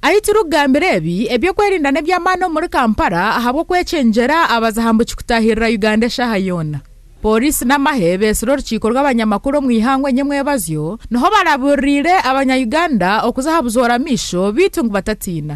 Ahi turikugambira ebi, eby'okwerinda n'eby'amaani omuri Kampala ahabw'okwekyeengyera abaza aha mbu kikutaahirira Uganda eshaaha yoona. Pooriisi n'amahe beetsire orukiiko rw'abanyamakuru omu ihangwe enyemwebazyo, niho barabuuririire abanya Uganda okuza aha buzoora amaisho beitu ngu batatiina.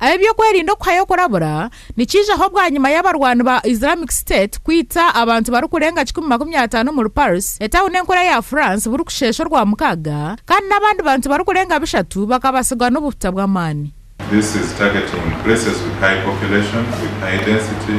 Eby'okwerinda okuhayo kurabura nikiijaho bwanyima y'abarwani ba Islamic State kwita abantu barikurenga kikumi makumi ataano omuri Paris, etawuni enkuru eya France burikusheesha Orwamukaaga, kandi n'abandi bantu barikurenga bishatu bakabatsirwa n'obuhuta bw'amaani. This is targeting places with high population, with high density.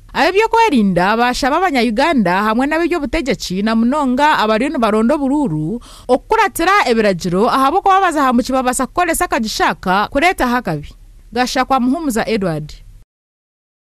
Ab'ebyokwerinda baashaba Abanya-Uganda hamwe n'ab'eby'obutegyeki na munonga abariyo nibaronda oburuuru okukuratira ebiragiro ahabw'okuba baza aha muki babaasa kukoresa akagisha aka kureetaho akabi. Gashakwa Muhumuza Edward.